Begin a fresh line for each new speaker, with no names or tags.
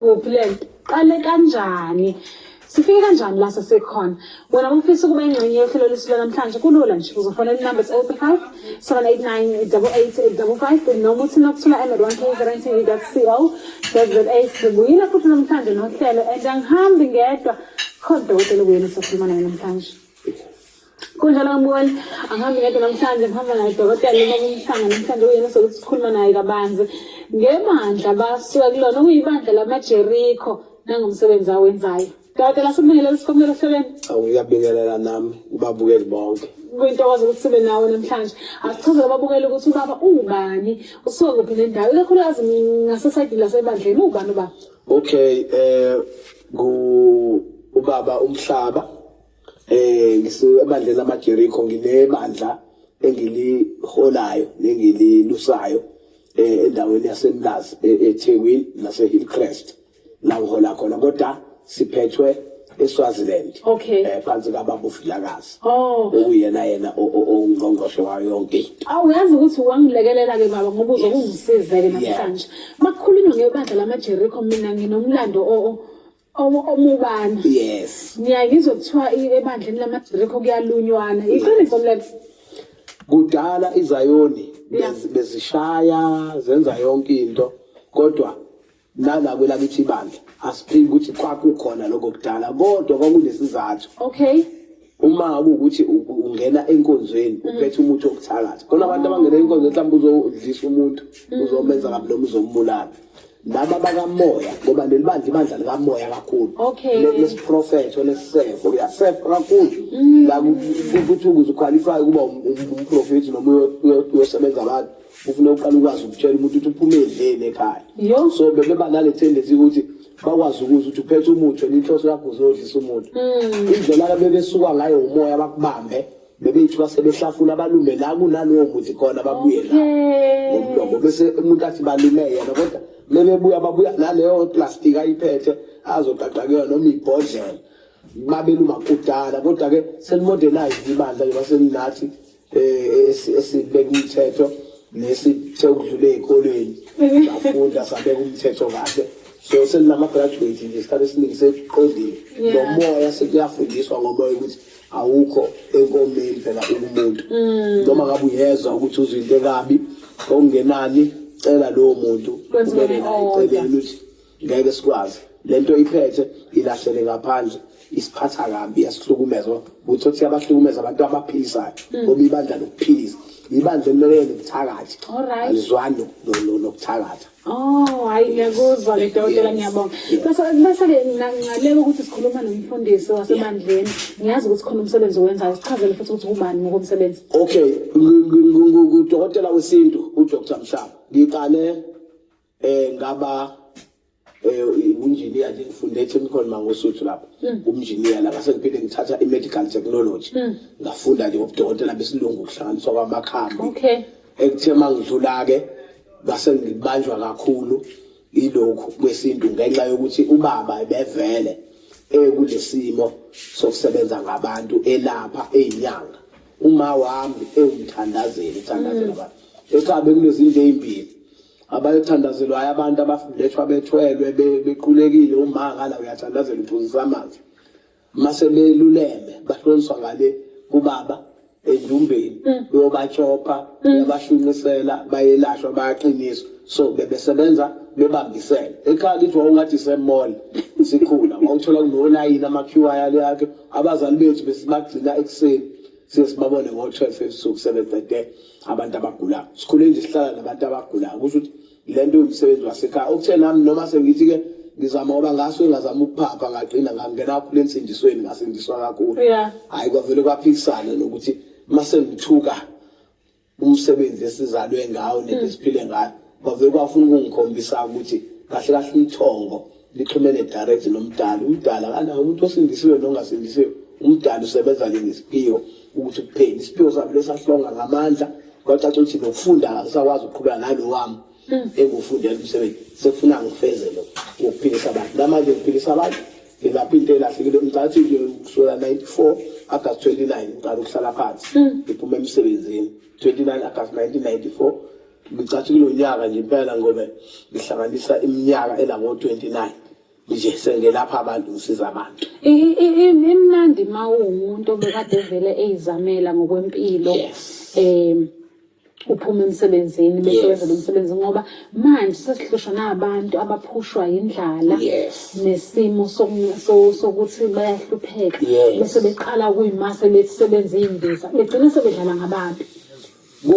kuphi le nto qale kanjani sifike kanjani la sesekhona wena ufisa ukuba ingxenye yohlelo lwethu lwanamhlanje kulula nje uzofonela inumber is 035 7898855 noma uthi nokuthola emad 1 k guarantee co za sibuyile futhi namhlanje nohlelo and angihambi ngedwa khona udokotela obuyeni sokhuluma naye namhlanje kunjalo ngibona angihambi ngedwa namhlanje ngihamba naye dokotela uma kumhlanga namhlanje uyena sokuthi sikhuluma naye kabanzi ngebandla basuka kulona okuyibandla lamajerikho nangomsebenzi awenzayo dokotela sibingelela sikomela ehlelweni awuyabingelela
nami ubabukeli bonke kuyintokozo ukuthi sibe
nawe namhlanje asichazele ababukeli ukuthi ubaba ungubani usuka kuphi nendawo ikakhulukazi ngasesayidini lasebandleni uwubani ubaba okay
um ubaba umhlaba eh ngisebandleni lamaJericho nginebandla engiliholayo nengililusayo eh, endaweni yaseMlazi e-, eThekwini naseHillcrest la ngihola khona kodwa siphethwe eSwaziland okay. eh phansi kababa uFilakazi oh uyena yena ongqongqoshe wayo yonke into awu yazi ukuthi
wangilekelela ke baba ngoba uzokungisiza ke namhlanje makukhulunywa ngebandla lamaJericho mina nginomlando o omubani yes
ngiyangizwa kuthiwa
ebandleni lamagrikho kuyalunywana iqiniso mlebe kudala
izayoni bezishaya zenza yonke into kodwa nala kwelakithi ibandla asiphiki ukuthi kwakukhona lokho kudala kodwa kwakunesizathu okay uma kuwukuthi ungena enkonzweni mm. uphethe umuthi wokuthakatha khona abantu abangena enkonzweni mhlawumbe uzodlisa umuntu mm. uzomenza kabi noma uzombulala laba bakamoya ngoba leli bandla ibandla likamoya kakhulu lesiprofetho lesisefo kuyasefa kakhulu mm. la kuthi ukuze ukhwalifye ukuba um, um, umprofethi noma uyosebenza abantu ufuna uqala ukwazi ukutshela umuntu ukuthi uphume edleni ekhaya Yo. so bebeba nale tendency ukuthi bakwazi ukuzwa ukuthi uphethe umuthi wena inhloso yakho uzodlisa umuntu indlela abebesuka ngayo umoya bakubambe bebeyithi basebehlafuna balume la kunalowo muthi khona babuye la Okay. ngomlomo bese umuntu athi balume yena kodwa mebebuya babuya naleyo plastic ayiphethe azoqaqa kuyona noma ibhodlela babeluma kudala kodwa-ke selimodernized ibandla njengoba selinathi eh esibeka umthetho nesithe ukudlula ezikolweni bafunda sabeka umthetho kahle so selinama graduate nje isikhathi esiningi sekuqondile nomoya sekuyafundiswa ngomoya ukuthi awukho enkomeni phela umuntu mm. noma ngabe uyezwa ukuthi uzwa into ekabi okungenani cela lowo muntu kumele naye celeni ukuthi ngeke sikwazi lento iphethe ilahlele ngaphandle isiphatha kabi yasihlukumeza ukuthi othi abahlukumeza abantu abaphisayo hmm. ngoba ibandla lokuphilisa ibandla elimele nokuthakathi alizwani nokuthakatha Oh, hayi
ngiyakuzwa ke dokotela ngiyabonga. Bese bese ke nginanqaleka ukuthi sikhuluma nomfundisi wasebandleni. Ngiyazi ukuthi khona umsebenzi owenzayo. Sichazele futhi ukuthi ubani
ngokomsebenzi. Okay, ngudokotela wesintu uDr. Mshaba. Ngiqale eh ngaba eh unjiniya nje ngifunde echemical mangosuthu lapho hmm. umnjiniya la ngase ngiphinde ngithatha i-medical technology hmm. ngafunda nje ngobudokotela besilungu kuhlanganiswa kwamakhambi okay ekuthe mangidlula-ke base ngibanjwa kakhulu ilokhu kwesintu ngenxa yokuthi ubaba ebevele ekulesimo sokusebenza ngabantu elapha eyinyanga uma wami ewumthandazeli uthandazela hmm. abantu ecabe kunezinto ezimbili abayothandazelwayo abantu abafundethwa bethwelwe bequlekile umanga la uyathandazela uphuzisa amanzi mase beluleme bahloniswa ngale kubaba endumbeni mm. uyobatshopa mm. uyabashunisela bayelashwa bayaqiniswa so bebesebenza bebambisene ekhaya kithi wawungathi isemall sikhula wawuthola kunolayini ama-qi ale akhe abazali bethu besibagcina ekuseni siye sibabone ngo-twelve ebusuku sebeqede abantu abagulayo sikhule nje sihlala nabantu abagulayo kusho ukuthi le nto umsebenzi wasekhaya okuthe nami noma sengithi-ke ngizama ngoba ngaso engazama ukuphapha ngagcina ngangena kakhulu ensindisweni ngasindiswa kakhulu hhayi kwavele kwaphikisane nokuthi uma sengithuka umsebenzi esizalwe ngawo nento esiphile ngayo kwavele kwafuna ukungikhombisa ukuthi kahle kahle umthongo lixhumene direct nomdali umdali akanawo umuntu osindisiwe nongasindisiwe umdali usebenza ke ngesiphiwo ukuthi kuphele isiphiwo sami lesahlonga ngamandla kwacaca ukuthi nokufunda akasakwazi ukuqhubeka nalo wami hmm. engufundela umsebenzi sekufuna ngifezele ngokuphilisa abantu namanje ngiphilisa abantu ngilapha into elahlekile ngicathi nje kusukela 94 agast 29 ngiqala ukuhlala phansi hmm. ngiphuma emsebenzini 29 agast 1994 Ngicathi kulo nyaka nje impela ngobe ngihlanganisa iminyaka elako-29 nje sengelapha abantu ngisiza abantu imnandi
ma uwumuntu obekade vele eyizamela ngokwempilo um uphuma emsebenzini bese wenza lo msebenzi ngoba manje sesihlushwa nabantu abaphushwa yindlala nesimo sokuthi bayahlupheka bese beqala kuyimase bethi sebenza iy'mbiza begcine sebedlala ngabantu